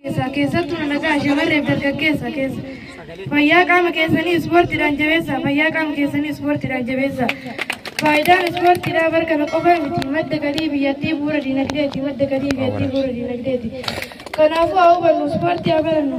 keessaa keessattuu nagaa shamarreef dargaggeessa keessa fayyaa qaama keessanii ispoortiidhaan jabeessa fayyaa qaama keessanii ispoortiidhaan jabeessa faayidaan ispoortiidhaa bar kana qofa miti madda galii biyyattii bu'uura dinagdeeti madda galii biyyattii bu'uura dinagdeeti kanaafuu haa hubannu ispoortii haa barannu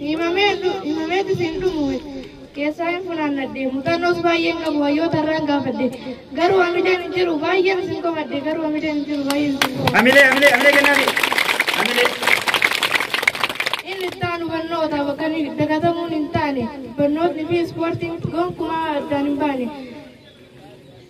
himameetis hin dhumu keessaa hin funaannadhe mutannoos baay'een qabu hayyoota irraan gaafadhe garuu hamileen hin jiru baay'een isin komadhe garuu hamileen hin jiru baay'een isin komadhe. Hamilee hamilee hamilee kennaafii. Hamilee. Inni itti aanu barnoota bakka inni dagatamuun hin taane barnootni fi ispoortiin gonkumaa addaan hin baane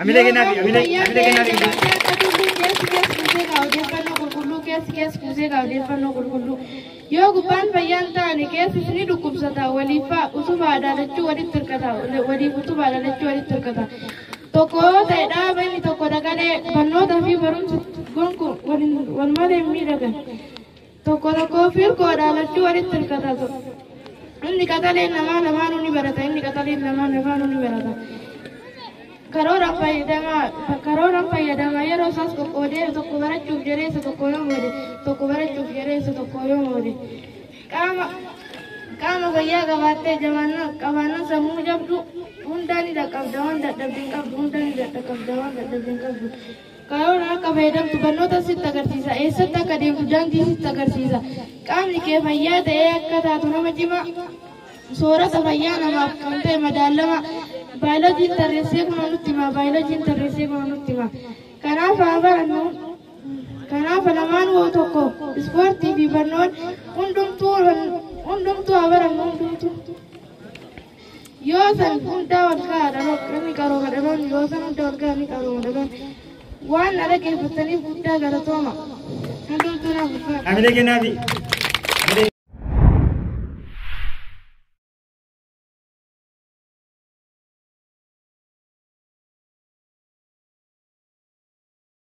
Amilee kennaa fi amilee amilee kennaa fi kennaa. Yoo gubbaan fayyaan taane keessi ni dhukkubsata waliif fa'a utuma adaalachuu walitti hirkata waliif utuma adaalachuu walitti hirkata. Tokko yoo ta'e dhaaba inni tokko dagalee barnootaa fi barumsa gonkuun wal malee hin miidhagan. Tokko tokkoo fi hirkoodhaa lachuu walitti hirkata to. Inni qaxaleen namaa lamaanuu ni barata. Inni qaxaleen namaa lamaanuu ni barata. Karoora fayyadama karoora fayyadama yeroo isaas qoqqoodee tokko barachuuf jedhee isa tokko yoo moode tokko barachuuf jedhee isa tokko yoo moode qaama qaama fayyaa qabaattee jabaannaa qabaannaa sammuu jabdu hundaa ni dhaqqabda waan dadhabde hin qabdu hundaa ni dhaqqabda waan dadhabde hin qabdu. Kaayoon akka fayyadamtu barnoota sitti agarsiisa. Eessatti akka deemtu daandii sitti agarsiisa. Qaamni kee fayyaa ta'ee akka taatu nama cimaa soorata fayyaa namaaf kan ta'e madaalama. Baayiloojiin tarreessee kun nutti hima. Baayiloojiin tarreessee kun nutti hima. Kanaaf haa barannu. Kanaaf lamaan hoo tokko ispoortii fi barnoon hundumtuu hundumtuu haa barannu hundumtuu. yoo san hundaa wal gahaa dhaloon namni qarooma dhaloon yoo san hundaa wal gahaa ni qarooma dhaloon waan na dhaggeeffattaniif guddaa galatooma hundumtuu naaf ulfaata. Hamilee kennaafi.